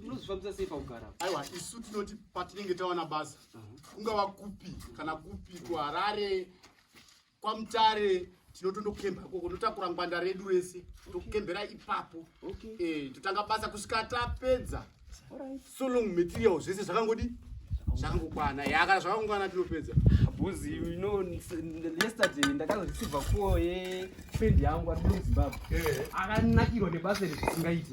munozvifambisa sei pakugara aiwa isu tinoti patinenge tawana basa uh-huh. kungava kupi kana kupi kuharare kwamutare tinotondokemba ikoko totakura ngwanda redu rese tokembera ipapo eh, totanga basa kusvika tapedza so long material zvese zvakangodi zvakangokwana ya kana zvakangokwana tinopedza bhuzi you know yesterday ndakazorisiva kuo yefriend yangu ari kuno zimbabwe eh. akanakirwa nebasa iri zvisingaite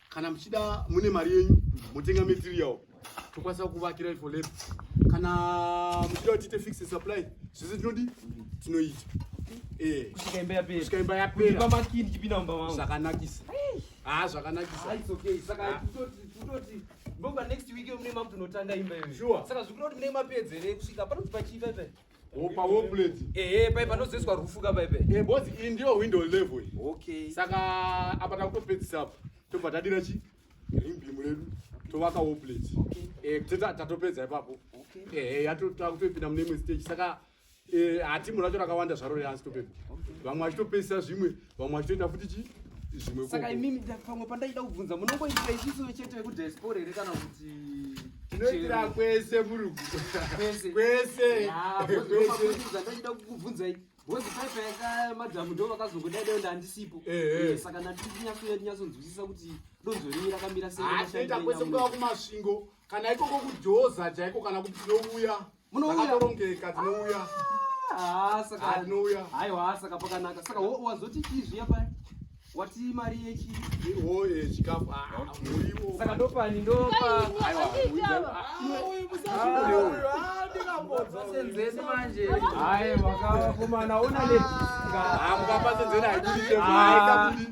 kana muchida mune mari yenyu motenga material tokwanisa kuvakira for lab kana muchida kuti tiite fixed supply zvese tinodi tinoita eh. kusvika imba yapera zvakanakisa haa ah, zvakanakisa ah, ah. Opa wo plate. Eh eh paipa ndozoiswa rufu ka paipa. Eh boss iyi ndiyo window level iyi. Okay. Saka apa takutopedzisa apa. Tobva tadira chi? Ring beam redu. Tovaka wo plate. Okay. Eh teta tatopedza ipapo. Okay. Eh, eh yatotakutopinda mune imwe stage. Saka eh hatimu racho rakawanda zvaro reasi topepa. Okay. Vamwe vachitopedzisa zvimwe vamwe vachitoita futi chi zvimwe saka imimi pamwe pandaida kubvunza munongoitira isiso chete vekudiaspora here kana kuti tinoitira kwese murugu kwese kwese ndochida kukubvunzai bhozi paipa yaka madhamu ndo vakazongodai dai ndandisipo eh, eh. eh, saka ndatikunyatsoyatinyatsodzwisisa kuti donzo renyu rakamira seaita kwese kuaa kumasvingo kana ikoko kujoza chaiko kana kuti tinouya munouyaorongeka tinouya ah, saka tinouya haiwa saka pakanaka saka wazoti chii zviya paya wati mari yechi oye chikafu ah, muriwo saka ndopani ndopa senzeni manje hayi makakomana ona le mukapasenzeni haikuite